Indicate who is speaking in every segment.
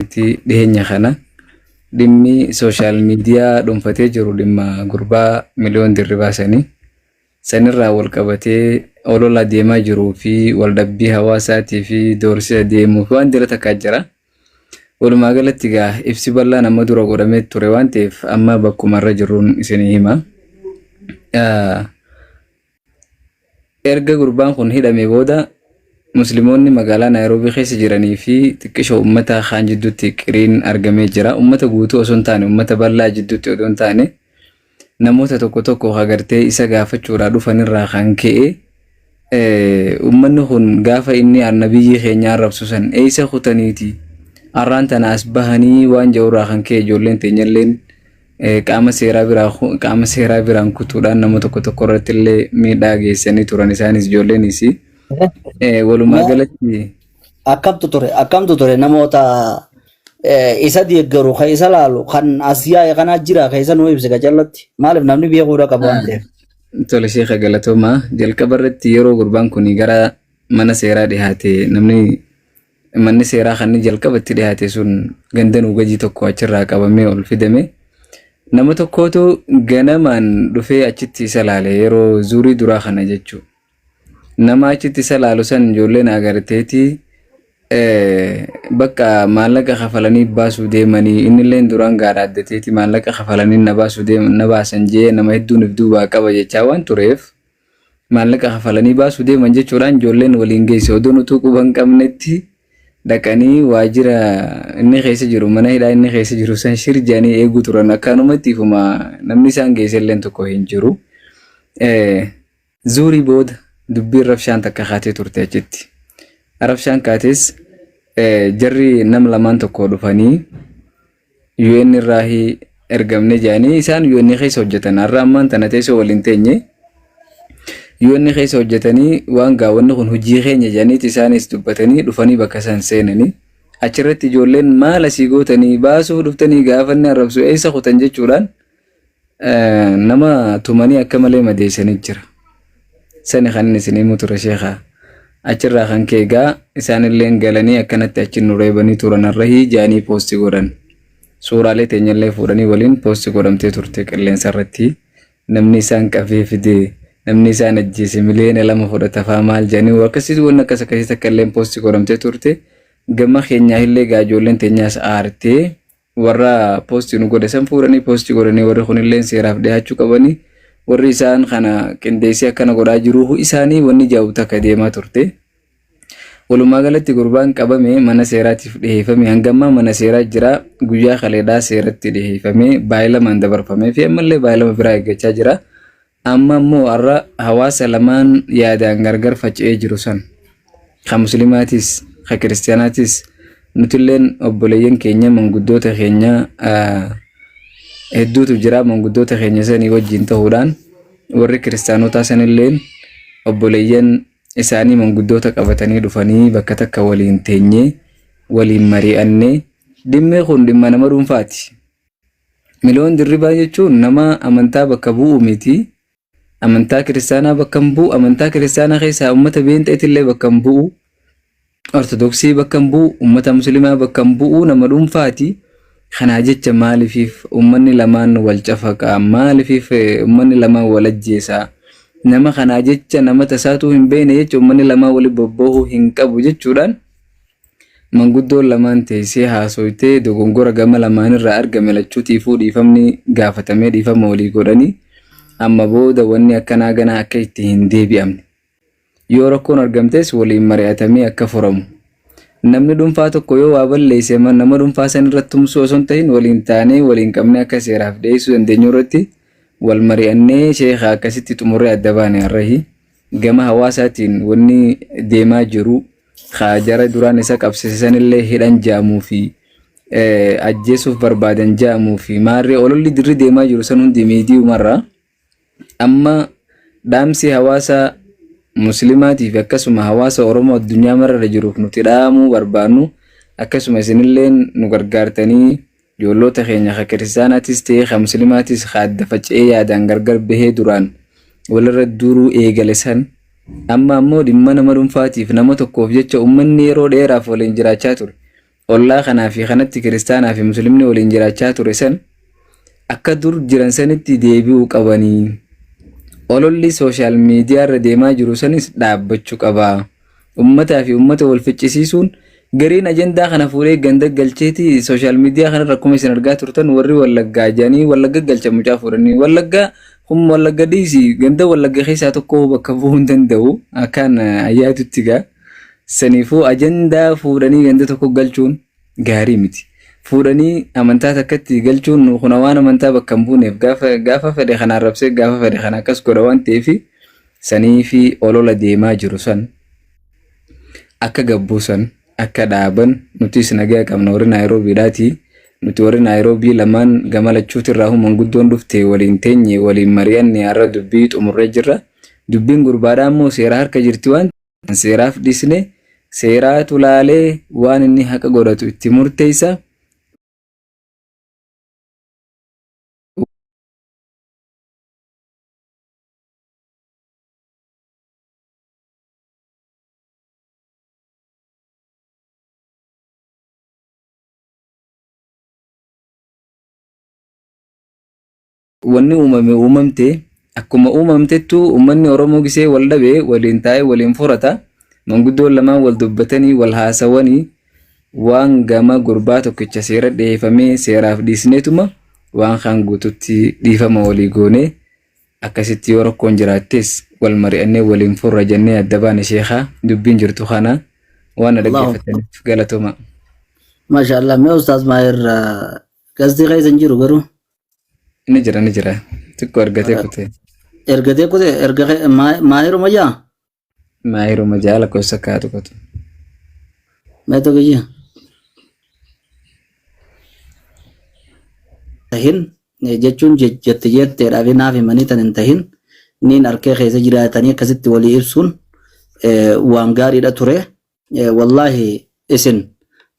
Speaker 1: Iti dhiheenya kana dhimmi sooshaal miidiyaa dhuunfatee jiru dhimma gurbaa miliyoon dirribaa sanii sanirraa wal qabatee olola deemaa jiruu fi waldhabbii hawaasaatii fi doorsisa deemuu fi waan dira takkaa jira. Walumaa galatti egaa ibsi bal'aan amma dura godhamee ture waan ta'eef amma bakkuma irra jirruun isinii hima. Ah, Erga gurbaan kun hidhamee booda Muslimoonni magaalaa Naayiroobii keessa jiranii fi xiqqishoo ummata kaan jidduutti qiriin argamee jira. Ummata guutuu osoo hin taane ummata bal'aa jidduutti odoo hin taane namoota tokko tokko hagartee isa gaafachuudhaa dhufanirraa kan ka'e ummanni kun gaafa inni annabiyyii keenya arrabsu san eessa kutaniiti arraan tana as bahanii waan ja'urraa kan ka'e ijoolleen teenyalleen qaama seeraa biraa qaama seeraa biraan kutuudhaan nama tokko tokko irratti illee miidhaa geessanii turan isaanis ijoolleenis walumaa galatti Akkamtu ture
Speaker 2: akkamtu ture namoota eh, isa deeggaru kan isa laalu kan as yaa'e kana jira kan isa nuu ibse gajallatti maaliif namni beekuudha qabu waan ta'eef. tole sheeka
Speaker 1: galatoomaa jalqaba irratti yeroo gurbaan kun gara mana seeraa dhihaate namni Manni seeraa kanni jalqaba itti dhiyaate sun ganda nuugajii tokko achirraa qabamee ol fidame. Nama tokkootu ganamaan dhufee achitti isa laale yeroo zuurii duraa kana jechuu. Nama achitti isa laalu san ijoolleen agarteeti bakka maallaqa kafalanii baasuu deemanii innilleen duraan gaadha addateeti maallaqa kafalanii na baasuu deeman na baasan jee nama hedduunif duubaa qaba jechaa waan tureef maallaqa kafalanii baasuu deeman jechuudhaan ijoolleen waliin geesse odoon utuu quba hin qabnetti dhaqanii waajjira inni keessa jiru mana hidhaa inni keessa jiru san shir jedhanii eeguu turan akkaanumatti ifuma namni isaan geesse illeen tokko hin jiru. Eh, Zuurii booda dubbiin rabshaan takka kaatee turte achitti. Rabshaan kaates eh, jarri nam lamaan tokko dhufanii UN irraa ergamne jedhanii isaan UN keessa hojjetan har'a ammaan tana teessoo waliin teenye UN keessa hojjetanii waan gaawwanni kun hojii keenya jedhaniiti isaanis dubbatanii dhufanii bakka isaan seenanii achirratti ijoolleen maal asii gootanii baasuuf dhuftanii gaafanni arrabsu eessa kutan jechuudhaan Nama tumanii akka malee madeessanii jira. Sani kan inni isin himu ture sheekha. Achirraa kan kee egaa isaanilleen galanii akkanatti achi nu reebanii turan arrahii jaanii poosti godhan. Suuraalee teenyallee fuudhanii waliin poosti godhamtee turte qilleensa irratti. Namni isaan qabee fide namni isaan ajjeese miliyoona lama fudhata faa maal jaanii akkasitti wanni akkas akkasii takka illeen poosti godhamtee turte. Gama keenyaa illee egaa ijoolleen teenyaas aartee warra poostii nu godhe san fuudhanii poostii godhanii warri kunillee seeraaf dhiyaachuu qabanii warri isaan kana qindeessee akkana godhaa jiruu isaanii wanni jaa'u takka deemaa turte. Walumaa galatti gurbaan qabame mana seeraatiif dhiheeffame hangammaa mana seeraa jira guyyaa kaleedhaa seeratti dhiheeffame baayilamaan dabarfamee fi ammallee baayilama biraa eeggachaa jira. Amma ammoo har'a hawaasa lamaan yaadaan gargar faca'ee jiru san, ka Muslimaatiis, ka Kiristiyaanaatiis, nutilleen obboleeyyan keenya, manguddoota keenya hedduutu jira. Manguddoota keenya sanii wajjin ta'uudhaan warri Kiristiyaanotaa sanilleen obboleeyyan isaanii manguddoota qabatanii dhufanii bakka takka waliin teenyee waliin mari'annee dhimmi kun dhimma nama dhuunfaati. Miloon Dirribaa jechuun nama amantaa bakka bu'u miti. Amantaa kiristaanaa bakka hin bu'u. Amantaa kiristaanaa keessaa uummata beenxeetillee bakka hin bu'u. Ortodoksii bakka hin bu'u. Uummata musliimaa bakka hin bu'u. Nama dhuunfaati. Kanaa jecha maaliif uummanni lamaan wal cafaqaa? Maaliif uummanni lamaan wal ajjeesaa? Nama kanaa jecha nama tasaatuu hin beekne jecha uummanni lamaan waliin bobboohuu hin qabu jechuudhaan Manguddoon lamaan teessee haasoytee dogongora gama lamaanirraa argame lachuutiifuu dhiifamni gaafatamee dhiifama walii godhanii amma booda wanni akkanaa ganaa akka itti hin deebi'amne yoo rakkoon argamtes waliin mari'atamee akka furamu namni dhuunfaa tokko yoo waa balleesse nama dhuunfaa san irratti tumsuu osoo hin tahin waliin taanee waliin qabnee akka seeraaf dhiyeessuu dandeenyu irratti wal mari'annee sheekha akkasitti xumurree adda baane har'ahi. Gama hawaasaatiin wanni deemaa jiru ka jara duraan isa qabsiise sanillee hidhan ja'amuu fi ajjeesuuf barbaadan ja'amuu fi maarree ololli dirri deemaa jiru san hundi miidiyumarra amma dhaamsi hawaasa muslimaatii fi akkasuma hawaasa Oromoo addunyaa mararra jiruuf nuti dhaamuu barbaannu akkasuma isinillee nu gargaartanii Ijoolloota keenya ka kiristaanaatis ta'ee ka muslimaatis ka adda faca'ee yaadaan gargar bahee duraan walirra duuluu eegale san amma ammoo dhimma nama dhunfaatiif nama tokkoof jecha ummanni yeroo dheeraaf waliin jiraachaa ture ollaa kanaa fi kanatti kiristaanaa fi muslimni waliin jiraachaa ture san akka dur jiran sanitti deebi'uu qabanii ololli sooshaal miidiyaarra deemaa jiru sanis dhaabbachu qaba. Ummataa fi ummata wal ficcisiisuun gariin ajandaa kana fuudhee ganda galcheeti social media kanarra akkuma isin argaa turtan warri wallaggaa jedhanii wallagga galcha mucaa fuudhanii wallaggaa kun wallagga dhiisi ganda wallagga keessaa tokko bakka bu'uu hin danda'u akkaan ayyaadutti gaa saniifuu ajandaa fuudhanii ganda tokko galchuun gaarii miti. Fuudhanii amantaa takkatti galchuun kuna waan amantaa bakka hin buuneef gaafa gaafa fedhe kan arrabsee gaafa fedhe kan akkas godha waan ta'eef sanii fi olola deemaa jiru san akka gabbuusan akka dhaaban nutis nagaa qabna warri naayiroobiidhaati. Nuti warri naayiroobii lamaan gama lachuutirraa human guddoon dhufte waliin teenye waliin mari'anne har'a dubbii xumurree jirra. Dubbiin gurbaadhaa immoo seera harka jirti waan Kan seeraaf dhiisne seeraatu laalee waan inni haqa godhatu itti murteessa. Wanni uumame uumamte, akkuma uumamtettu ummanni Oromoo gisee wal dhabe waliin taa'ee waliin furata. Manguddoon lamaan wal dubbatanii, wal haasawanii waan gama gurbaa tokkicha seera dhiheefamee seeraaf dhiisneetuma waan kaan guututti dhiifama walii goonee akkasitti yoo rakkoon jiraattees wal mari'annee waliin furra jennee adda baane sheekaa dubbiin jirtu kana waan na Allahu Akbar. dhaggeeffataniif galatooma. Maashaallah
Speaker 2: mee Ustaaz Maahir gaazexii keessa hin jiru garuu. Ni jira
Speaker 1: ni jira. Xiqqoo argatee kutee. Ergatee kute erga kee- maa- maahiruma yaa Maayiruma ja'a lakkoofsa ka'a tuqatu.
Speaker 2: meeto kiyya. Tahin eh, jechuun je- jette jetteedhaaf naaf himanii tan hin tahin niin arkee keessa jiraatanii akkasitti walii ibsuun eh, waan gaariidha ture. Eh, Wallaahi isin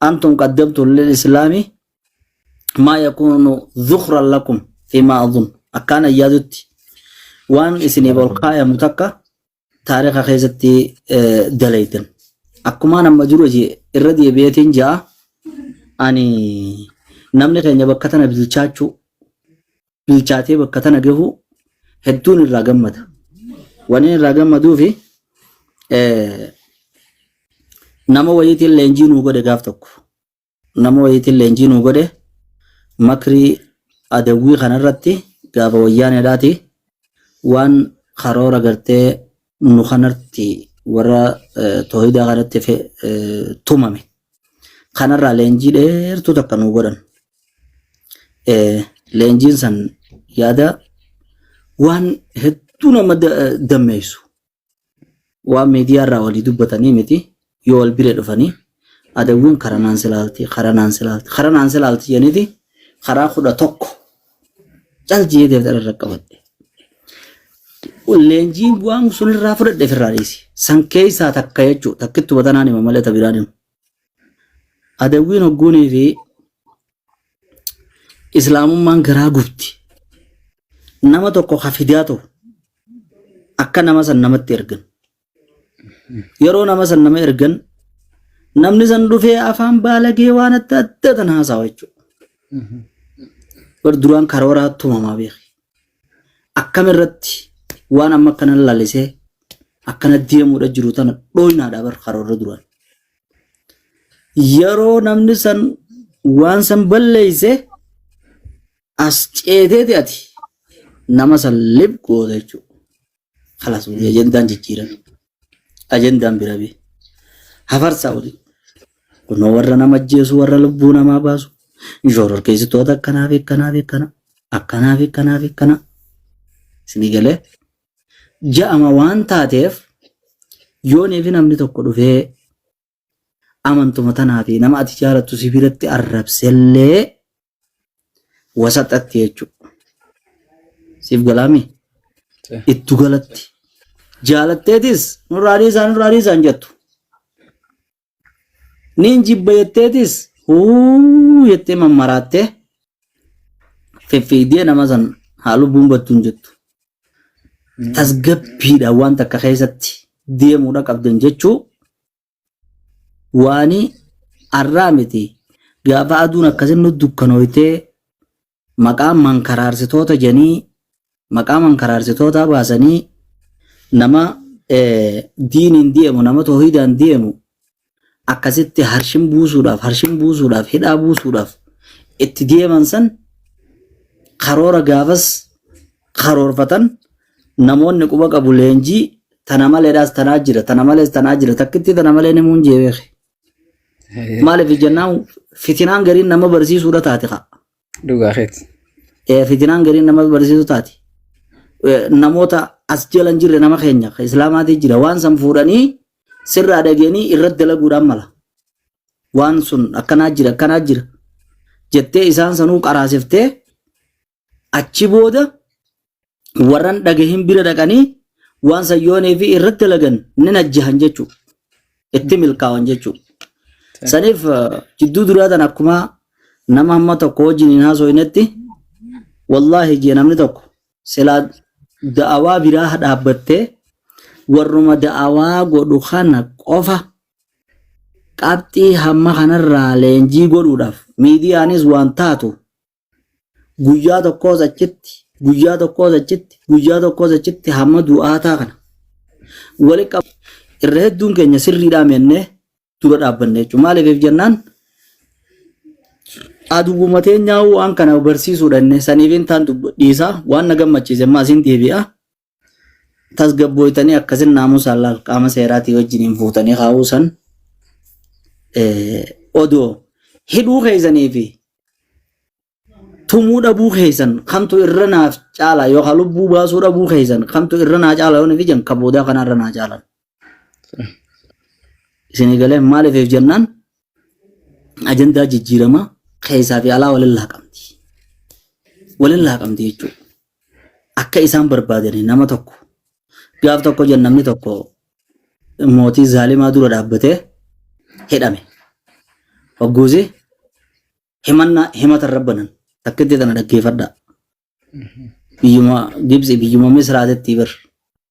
Speaker 2: antum qaddamtu lil islaami maa yakuunu dhukran lakum fimaa adun akkaan ayyaadutti waan isiniif ol kaayamu takka taariika keessatti eh, dalaytan akkumaan amma dura jee irra deebi'eetiin ja'a ani namni keenya bakka tana bilchaachuu bilchaatee bakka tana gahuu hedduun irraa gammada waniin irraa gammaduufi eh, nama wayiitiin leenjii nuu godhe gaaf tokko nama wayiitiin leenjii nuu godhe makrii adawwii kanarratti gaafa wayyaaneedhaati waan karoora gartee nu kanarratti warra toohidaa kanatti tumame kanarraa leenjii dheertuu takka nuu godhan. Leenjiin san yaada waan hedduu nama dammeessu waan miidiyaa irraa walii dubbatanii miti yoo wal bira dhufanii adawwiin karanaan silaalti karanaan silaalti karanaan silaalti jeniti karaa kudha tokko cal jee deemtan irra qabadhe. Leenjiin waan sunirraa fudhadhe ofirraa dhiisi. San keessaa takka jechuudha. Takkittu batanaan hima malee tabiraan hima. Adawwiin hogguunii fi islaamummaan garaa gubdi. Nama tokko ka fidaa ta'u akka nama san namatti ergan. Yeroo nama san nama ergan namni san dhufee afaan baalagee waan adda addaa tan haasawa jechuudha. Bar duraan karooraa tumamaa beeki. akkam irratti waan amma akkana lalisee akkana deemuudha jiru tana dhooynaadha bar karoorra duraan. Yeroo namni san waan san balleeyse as ceeteeti ati nama san lib goota jechuudha. Kalas wali ajandaan jijjiirame. Ajandaan bira bee. Hafarsaa wali. Kunoo warra nama ajjeesu warra lubbuu namaa baasu. Inshoorar keessattoota akkanaa fi akkanaa fi akkanaa. Akkanaa fi akkanaa fi akkanaa. Isinii galee. Ja'ama waan taateef yoonii fi namni tokko dhufee amantuma tanaa fi nama ati jaalattu si biratti arrabsellee wasaxatti jechuudha. Siif galaami ittu galatti jaalatteetis nurraa dhiisaa nurraa dhiisaa hin jettu. Niin jibba jetteetis huu jettee mammaraattee fiffiigdee nama san haa lubbuun battu hin jettu. Tasgabbiidhaan wanta akka keessatti deemuudha qabdan jechuu waani arraa miti gaafa aduun akkasin nu dukkanooytee maqaa mankaraarsitoota janii maqaa mankaraarsitootaa baasanii nama eh, diiniin deemu nama toohidaan deemu akkasitti harshin buusuudhaaf harshin buusuudhaaf hidhaa buusuudhaaf itti deeman san karoora gaafas karoorfatan Namoonni quba qabu leenjii tana maleedhaas tanaa jira tana malees tanaa jira takkittii tana malee ni muun jee beeke. Maaliif jennaan fitinaan gariin nama barsiisuudha taate kaa. Dhugaa keeti.
Speaker 1: Eh, Fitinaan
Speaker 2: gariin nama barsiisu taate. Eh, Namoota as jala hin jirre nama keenya kan islaamaatii jira waan san fuudhanii sirraa dhageenii irratti dalaguudhaan mala. Waan sun akkanaa jira akkanaa jira jettee isaan sanuu qaraasiftee Achi booda warran dhagahin bira dhaqanii waan san yoo neefi irratti dalagan ni najjahan jechuu itti milkaawan jechuu saniif eh, jidduu duraa tan akkuma nama hamma tokko wajjin hin haasooynetti wallaahi jee namni tokko silaa da'awaa biraa dhaabbattee warruma da'awaa godhu kana qofa qabxii hamma kanarraa leenjii godhuudhaaf miidiyaanis waan taatu Guyyaa tokkoos achitti, guyyaa tokkoos achitti, guyyaa tokkoos achitti hamma du'aataa kana walitti qabu. Irra hedduun keenya sirriidhaa mennee dura dhaabbanne jechuudha. Maaliif jennaan aduwwuma teenyaa waan kana barsiisuudha inni saniif intaan dhiisaa waan na gammachiise ammaa asiin deebi'a. tasgabbooytanii akkasin naamusaan laal qaama seeraatii wajjiniin fuutanii kaa'uu san odoo hidhuu keessanii fi tumuu dhabuu keessan kamtu irra naaf caala yookaan lubbuu baasuu dhabuu keessan kamtu irra naa caala yoo nufi jan ka boodaa kana irra naa caalan. Isinii galee maaliif jennaan ajandaa jijjiiramaa keessaa fi alaa waliin laaqamti. Waliin laaqamti jechuudha. Akka isaan barbaadanii nama tokko gaaf tokko jenna namni tokko mootii zaalimaa dura dhaabbatee hidhame. Hogguusi himannaa himata irra banan takkitti tana dhaggeeffadhaa. Biyyuma Gibsi biyyuma Misraatitti bir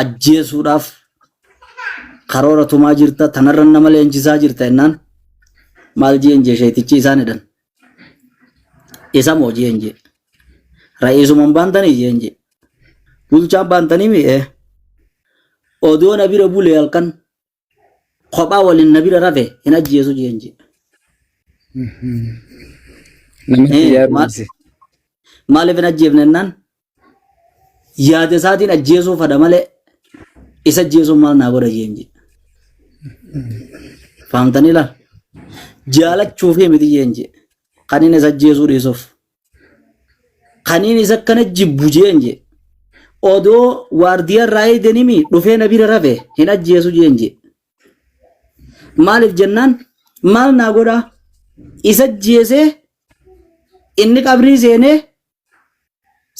Speaker 2: ajjeesuudhaaf karoora tumaa jirta tanarra nama leenjisaa jirta jennaan maal jeen jee sheetichi isaan jedhan isa moo jeen jee ra'iisuman baantanii jeen jee bulchaan baantanii mi'ee odoo na bira bulee halkan kophaa waliin na bira rafe hin ajjeesu jeen jee.
Speaker 1: Namatti Eh, yaadu maal- ibse. Maaliif
Speaker 2: hin ajjeefne jennaan yaada isaatiin ajjeesuu fada malee isa ajjeesuun maal naa godha jeen jee. Fahamtanii laa? Jaalachuufii miti jeen jee. Kan inni isa ajjeesuu dhiisuuf. Kaniin isa akkana jibbu jeen jee. Odoo waardiyarraa eeganimi dhufee na bira rafe hin ajjeesu jeen jee. Maaliif jennaan maal naa godhaa? Isa ajjeesee inni qabrii seenee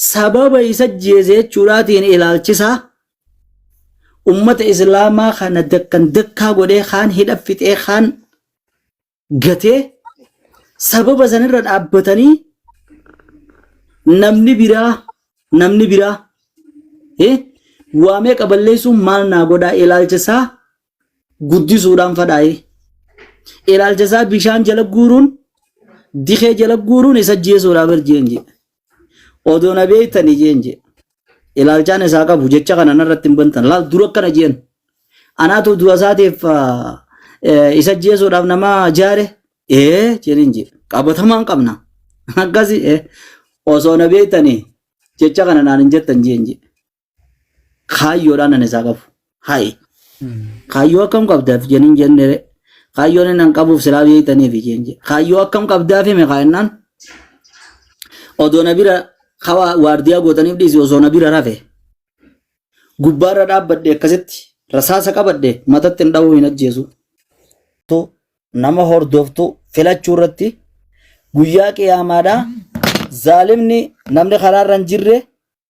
Speaker 2: sababa isa ajjeese jechuudhaatiin ilaalchisaa ummata islaamaa kana dakkan dakkaa godhee kaan hidha fixee kaan gatee sababa sanirra dhaabbatanii namni biraa namni biraa eh, waa meeqa balleessuun maal naa godhaa ilaalcha isaa guddisuudhaan fadhaa'ee ilaalcha isaa bishaan jala guuruun dikee jala guuruun isa jeesuudhaaf erjeen jedhe. Odoo na beektanii jeen jee. Ilaalchaan isaa qabu jecha kana narratti hin bantan. Laal dura akkana jeen. Anaatu du'a isaatiif ah, eh, isa ajjeesuudhaaf nama jaare. Ee jedhin jee. Qabatamaan qabna. Akkasi eh, osoo na beektanii jecha kana naan hin jettan jeen jee. kaayyoodhaan ani isaa qabu. Hayi. Kaayyoo akkam qabdaaf jeniin jennere. Kaayyoon inni an qabuuf silaa beektaniif jeen jee. Kaayyoo akkam qabdaaf hime kaayennaan. Odoo na bira kawa waardiyaa gootaniif dhiisi osoo na bira rafe. Gubbaarra dhaabbadhe akkasitti rasaasa qabadhe matatti hin dhahuu hin ajjeesu. Tu nama hordoftu filachuu irratti guyyaa qiyaamaadhaa zaalimni namni karaarra hin jirre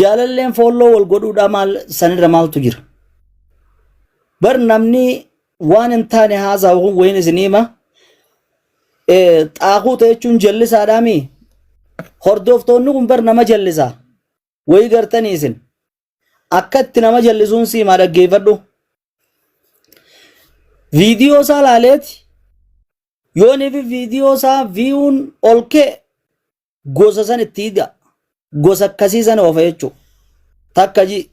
Speaker 2: Jaalalleen foolloo wal godhuudhaa maal sanirra maaltu jira? Bar namni waan hin taane haasaa kun wayin isin hima. Xaaquu ta'e jechuun jallisaadhaa mii? Hordoftoonni kun bar nama jallisa. Wayii gartanii isin. Akka itti nama jallisuun si himaa dhaggeeffadhu. Viidiyoo isaa laaleeti. Yooniif viidiyoo isaa viiyuun ol ka'e gosa san itti hidha gosa akkasii san oofa jechuu takka ji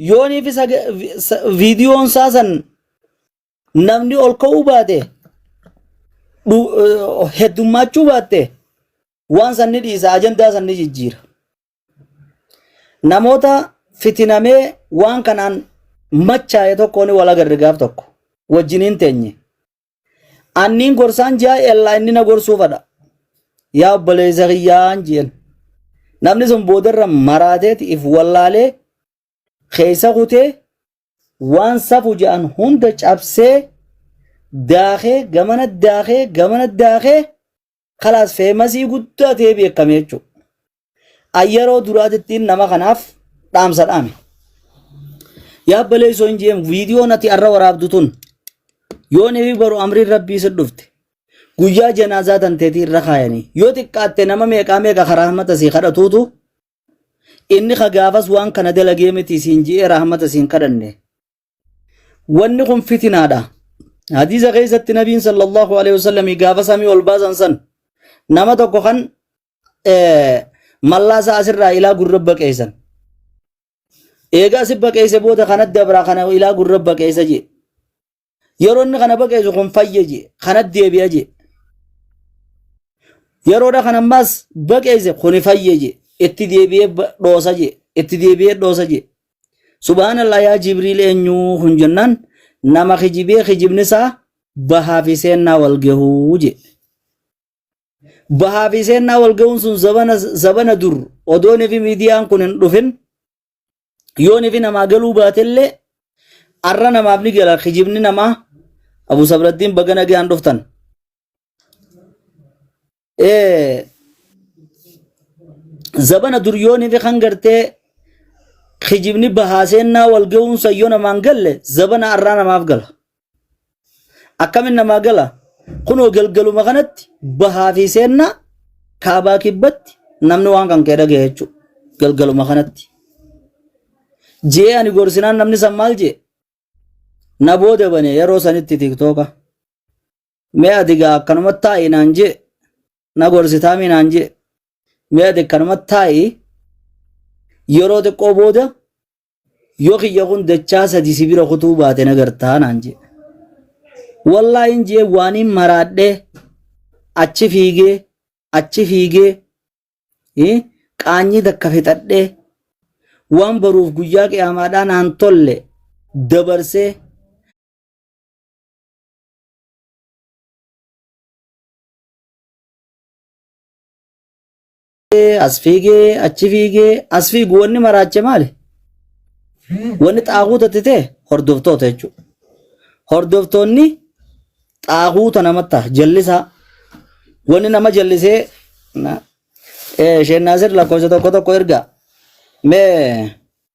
Speaker 2: yoonii fi viidiyoon isaa san namni ol ka'uu baate heddummaachuu baatte waan san ni dhiisa ajandaa san ni jijjiira namoota fitinamee waan kanaan machaa'e tokkoon wal agarre gaaf tokko wajjiniin teenye Anniin gorsaan ji'a ellaa inni na gorsuu fadha. Yaa obboleessa kiyyaan ji'en. Namni sun boodarra maraateeti if wallaalee keessa kutee waan safu ja'an hunda cabsee daakee gamana daakee gamana daakee kalaas feemasii guddaa ta'ee beekame jechuudha. An yeroo duraatittiin nama kanaaf dhaamsa dhaame. Yaa baleessoo hin jeemu viidiyoon ati arra waraabdu tun yoo nefi baru amriin rabbii si dhufte guyyaa janaazaa tanteetii irra kaayanii yoo xiqqaatte nama meeqaa meeqa ka rahmata sii kadhatuutu inni ka gaafas waan kana dalagee miti siin ji'ee rahmata siin kadhanne wanni kun fitinaadha hadiisa keessatti nabiin sallallahu alaihi wasallam gaafa samii ol baasan san nama tokko kan eh, mallaasa asirraa ilaa gurra baqeessan eega asi baqeesse booda kanat dabraa kana ilaa gurra baqeessa jee yeroo inni kana baqeessu kun fayya jee kanat deebi'a jee yeroodha kan ammaas baqeesse kuni fayye je itti deebi'ee ba- dhoosa je itti deebi'ee dhoosa je Subhaanallah yaa Jibriil eenyuu kun jennaan nama kijibee kijibni isaa bahaa fi seennaa wal gahuu jee. Bahaa fi seennaa wal gahuun sun zabana zabana dur odoon fi miidiyaan kun hin dhufin yoon fi namaa galuu baatellee arra namaaf ni gala kijibni namaa Abu Sabrattiin baga nagaan dhuftan. Eh, zabana dur yoo nimi kan gartee kijibni bahaaseenyaa wal ga'uunsa yoo namaan galle zabana arraa namaaf gala. Akkamin namaa gala? Kunoo galgaluma kanatti bahaa fi seennaa kaabaa kibbatti namni waan kan kee dhaga'e jechuudha. Galgaluma kanatti. Jee ani gorsinaan namni san maal jee? Na booda bane yeroo sanitti tiktooka. Mee ati gaa akkanumatti taa'i naan jee na gorsitaamii naan jee mee ati akkanumatti taa'i yeroo xiqqoo booda yoo kiyya kun dachaa sadi si bira kutuu baate na gartaa naan jee. Wallaahi hin jee waaniin maraadhee achi fiigee achi fiigee eh, qaanyii takka fixadhee waan baruuf guyyaa qiyaamaadhaa naan tolle dabarsee as fiigee achi fiigee as fiigu wanni maraache maali? Wanni xaaquuta itti ta'e hordoftoota jechuudha. Hordoftoonni xaaquuta namatti ta'a jallisaa wanni nama jallisee na- eh, Sheek Naasir lakkoofsa tokko tokko ergaa mee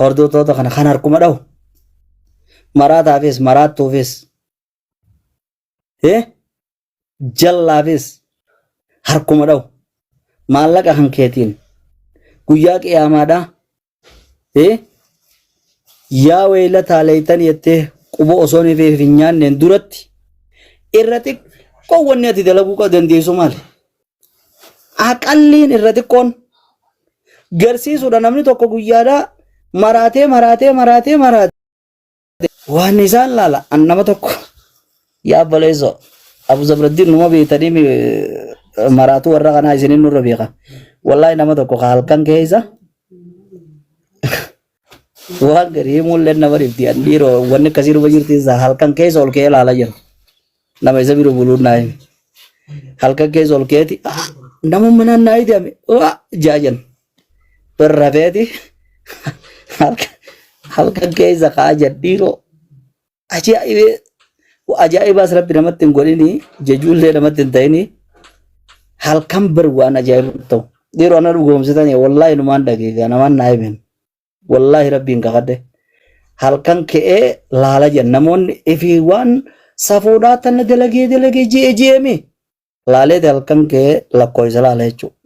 Speaker 2: Hordoftoota kana kan harkuma dhahu. Maraataafis maraattuufis. Eh? Jallaafis harkuma dhahu. Maallaqa kan keetiin. Guyyaa qiyaamaadhaa. Eh? Yaa weeylataa leeytan jettee quba osoo hin feef hin nyaanneen duratti irra xiqqoo wanni ati dalaguu qaba dandeessu maali? Aqalliin irra xiqqoon garsiisuudha namni tokko guyyaadhaa maraatee maraatee maraatee maraatee waan isaan laala an nama tokko yaa baleeso abu zabraddiin numa beektanii mi- eh, maraatuu warra kanaa isinin nurra beeka wallaahi nama tokko ka halkan keessa Waan garii mul'in nama dhifti an dhiiroo wanni akkasii dhuma jirti isaa halkan keessa ol ka'ee ilaalaa jira. Nama isa bira buluun naa hime. Halkan keessa ol ka'eeti "Ah, nama manaan naa idame waa jaajan birra feeti halkan halkan keessa kaa jadhiiroo Ajaa'ibee ajaa'ibaas rabbi namatti hin godhini jejuullee namatti hin ta'ini halkan bar waan ajaa'ibu hin ta'u. Dhiiroo ana dhugoomsitan wallaahi numaan dhageega namaan naa himen wallaahi rabbiin kakadhe halkan ka'ee laala jedhan namoonni ifi waan safuudhaa tana dalagee dalagee ji'e ji'eemi laaleeti halkan ka'ee lakkoofsa laala jechuudha.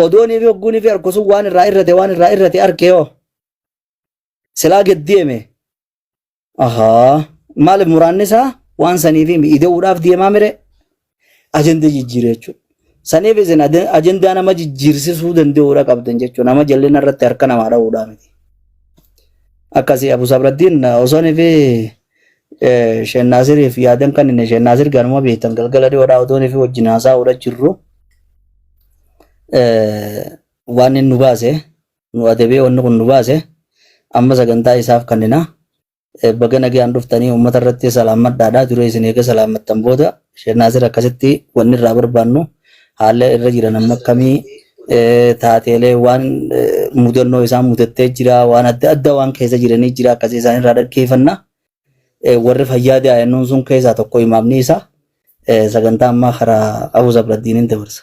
Speaker 2: Odoonii fi hogguunii fi harkusuun waan irraa irrate waan irraa irrate arkee hoo. silaa gad deeme ahaa maaliif muraanni isaa waan saniif himi ida'uudhaaf deemaa mire ajanda jijjiire jechuudha. Saniif isin ade- ajandaa nama jijjiirsisuu danda'uudha qabdan jechuudha. Nama jallina irratti harka namaa dha'uudhaa miti. Akkasii Abu Sabraddiin osoon fi Sheen Naasiriif yaadan kan inni Sheen Naasir ganuma beektan galgala dhiyoodhaa otoon fi wajjin haasa'uudha jirru eh, waan inni nu baase nu adabee wanni kun nu baase amma sagantaa isaaf kannina baga nagaan dhuftanii uummata irratti salaammadhaadha duree isin eega salaammattan booda Sheek Naasir akkasitti wanni irraa barbaannu haala irra jiran amma akkamii taateelee waan mudannoo isaan mudattee jira waan adda addaa waan keessa jiranii jira akkasii isaan irraa dhaggeeffanna warri fayyaa daa'immanii sun keessaa tokko imaamni isaa sagantaa ammaa karaa Abu Zabraddiiniin dabarsa.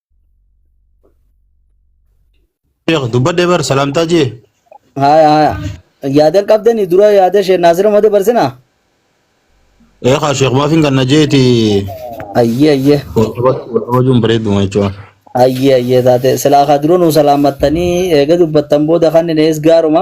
Speaker 3: Sheekh dubbadhee bar salaamtaa jee. Haya haya.
Speaker 2: Yaadan qabdanii dura yaada ishee naasira mata barsinaa.
Speaker 3: Ee kaa sheekh maafiin kan na jeeti Ayyee
Speaker 2: ayyee.
Speaker 3: wajuun bareeduma jechuudha. Ayyee ayyee
Speaker 2: taate silaa kaa dura nuu salaamattanii eega dubbattan booda kan inni ees gaaruma.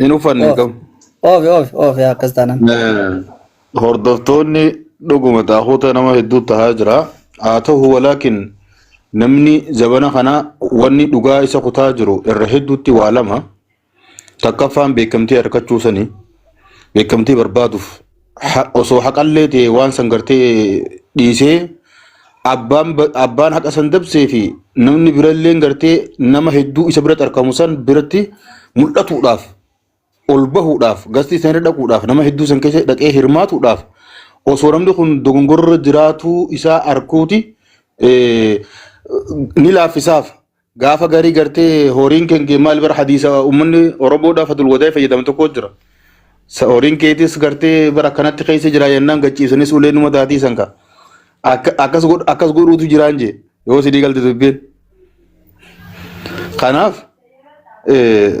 Speaker 3: Hin uffanne hin Oof. qabu. Oof oof oof
Speaker 2: yaa akkas taanan. Eh, Hordoftoonni
Speaker 3: dhuguma xaahuuta nama hedduu tahaa jira. Haa ta'u walaakin namni zabana kana wanni dhugaa isa kutaa jiru irra hedduutti waa lama takkaffaan beekamtii harkachuu sanii beekamtii barbaaduuf ha- osoo haqallee ta'e waan san gartee dhiisee abbaan ba- abbaan haqa san dabsee fi namni biralleen gartee nama hedduu isa biratti argamu san biratti mul'atuudhaaf ol bahuudhaaf gastii san irra dhaquudhaaf nama hedduu san keessa dhaqee hirmaatuudhaaf osoo namni kun dogongorra jiraatuu isaa arguuti eh, ni laaffisaaf Gaafa garii gartee horiin keen kee maal bara hadiisa ummanni Oromoodhaa fatul wadaa'e fayyadama tokko jira. Sa horiin keetis gartee bara akkanatti keessa jira jennaan gachiisanis ulee numa taatii san ka. Akka- Akkas godh- akkas godhuutu jiraan jee yoo sidii galte dubbiin. Kanaaf eh,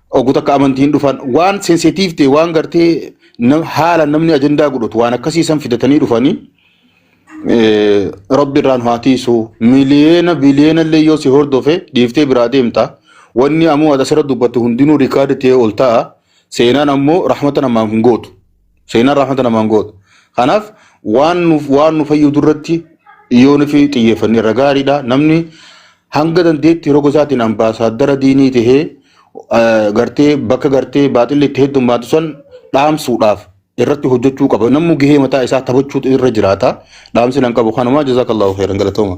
Speaker 3: Oguu takka amantii hin dhufan waan sensitive ta'e waan gartee nam- haala namni ajandaa godhatu waan akkasii san fidatanii dhufanii eh, rabbi irraan haa tiisu miliyeena biliyeena illee yoo si hordofe dhiiftee biraa deemta wanni ammoo asirra dubbatu hundinuu rikaardi ta'ee ol ta'a seenaan ammoo rahmata namaaf hin gootu. Seenaan rahmata namaan gootu. Kanaaf waan nuuf waan nu fayyadu irratti yoo nufi xiyyeeffanne irra gaariidha. Namni hanga dandeetti roga isaatiin ambaasaaddara diinii tahee eh, gartee bakka gartee baaxilli itti heddummaatu san dhaamsuudhaaf irratti hojjechuu qaba. Namni gahee mataa isaa taphachuutu irra jiraata. Dhaamsi nan qabu kanuma jazaakallahu khairan galatooma.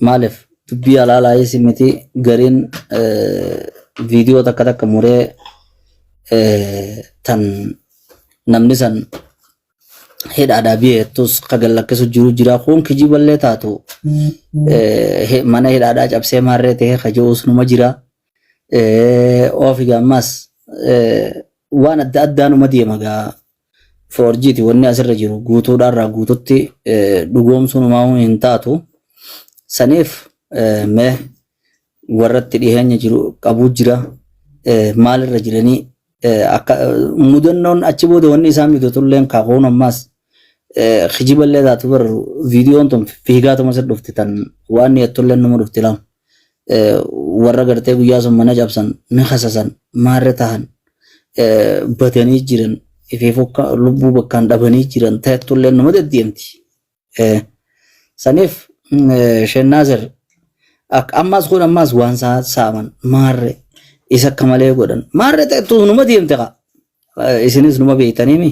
Speaker 2: Maalif dubbii halaalaayis miti gariin viidiyoo takka takka muree tan namni san hidhaadhaa biyya jettus ka gallakkisu jiru jira kun kijiballee taatu mana hidhaadhaa cabsee maarree ta'ee ka je'uus numa jira oofi gaammaas waan adda addaa numa deema gaa foorjiiti wanni asirra jiru guutuudhaa irraa guututti dhugoomsuun umaamuu hin taatu saniif mee warratti dhiheenya jiru qabuu jira maalirra jiranii akka mudannoon achi booda wanni isaan mudatulleen kaakuun ammaas kijiballee taatu bar viidiyoon tun fiigaatuma sir dhufti tan waan yattulleen nama dhufti lama. warra gartee guyyaa sun mana cabsan ni kasasan maarre tahan batanii jiran ifee fokka lubbuu bakkaan dhabanii jiran ta'ettu illee nama deddeemti. Saniif Sheennaasir ammaas kun ammaas waan saaman maarre isa akka malee godhan maarre ta'ettu numa deemte kaa. isinis numa beektaniimi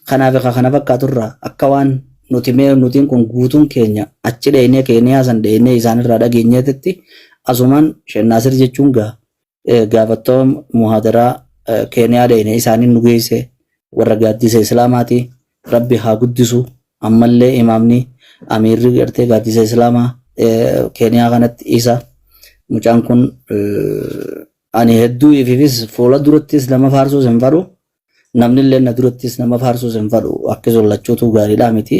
Speaker 2: kanaafi ka kana fakkaaturraa akka waan nuti mee nutiin kun guutuun keenya achi dheeynee keeniyaa san dheeynee isaanirraa dhageenyeetitti asumaan shennaasir jechuun gaa gaafattoo muhaadaraa keeniyaa dheeyne isaaniin nu geeyse warra gaaddisa islaamaati rabbi haa guddisu ammallee imaamni amiirri gartee gaaddisa islaamaa keeniyaa kanatti isa mucaan kun Ani hedduu ififis fuula durattis nama faarsuus hin fadhu. Namnillee na durattis nama faarsuus hin fadhu. Akkasuma lachuutuu gaariidhaa miti.